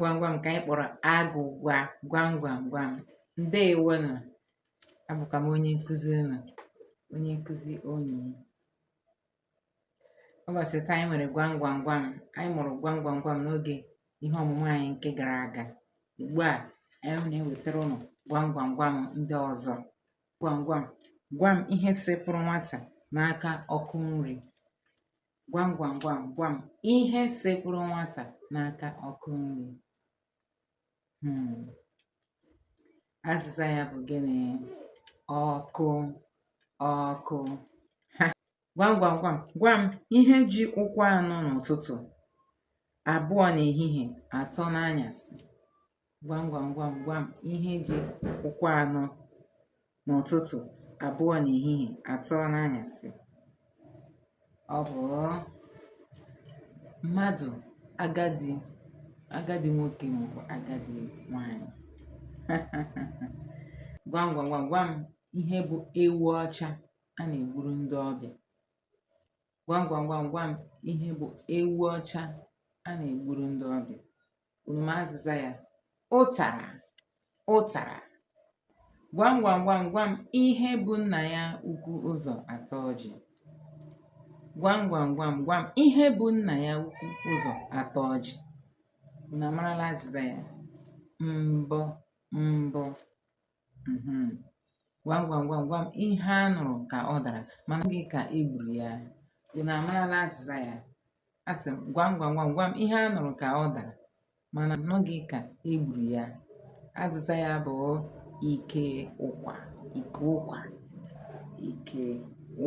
gwam gwam nke anyị kpọrọ agwụgwa gwam gwam gwam ndewo nụ abụkwa m onye nkụzi unu onye nkụzi unu ụbọchị taa anyị nwere gwam gwam gwam anyị mụrụ gwam gwam gwam n'oge ihe ọmụmụ anyị nke gara aga ugbu a anyị na-ewetara unu gwam gwam gwam ndị ọzọ gwam gwam gwam ihe sepụrụ nwata n'aka ọkụ nri gwam gwam gwam gwam ihe sekpụrụ nwata n'aka ọkụ nri hmm. azịza ya bụ gịnị ọkụ ọkụ gwam gwam gwam gwam ihe ji ụkwụ anọ n'ụtụtụ abụọ n'ehihie atọ n'anyasị gwam gwam gwam gwam ihe ji ụkwụ anọ n'ụtụtụ abụọ n'ehihie atọ n'anyasị ọ bụ mmadụ agadi agadi nwoke maọbụ agadi nwanyị gwam gwam gwam gwam ihe bụ ewu ọcha a na-egburu ndị ọbịa gwam gwam gwam gwam ihe bụ ewu ọcha a na-egburu ndị ọbịa Unu ma azịza ya? Ụtara, ụtara. Gwam gwam gwam gwam ihe bu nna ya ukwu ụzọ ata ọjị. Gwam gwam gwam gwam ihe bu nna ya ukwu ụzọ ata ọjị. Unu amarala azịza ya? Mbọ, mbọ. mhm. gwam gwam gwam gwam ihe a nụrụ ka ọ dara ma anụghị ka e gburu ya unu amarala azịza ya asị m gwam gwam gwam gwam ihe a nụrụ ka ọ dara mana anụghị ka e gburu ya azịza ya bụ ike ụkwa ike ụkwa ike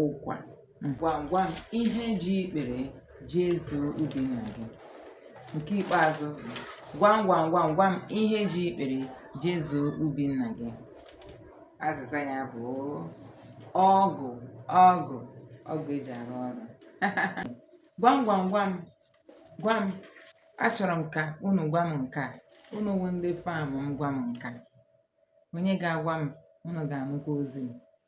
ụkwa Gwam gwam ihe ji ikpere jezuo ubi nna gị. Nke ikpeazụ, gwam gwam gwam gwam ihe ji ikpere jezuo ubi nna gị. Azịza ya bụ ọgụ ọgụ ọgụ e ji arụ ọrụ. gwam gwam gwam gwam achọrọ m ka unu gwa m nke a unu wụ ndị fan m gwa m nke a onye ga-agwa m unu ga-anụkwa ozi m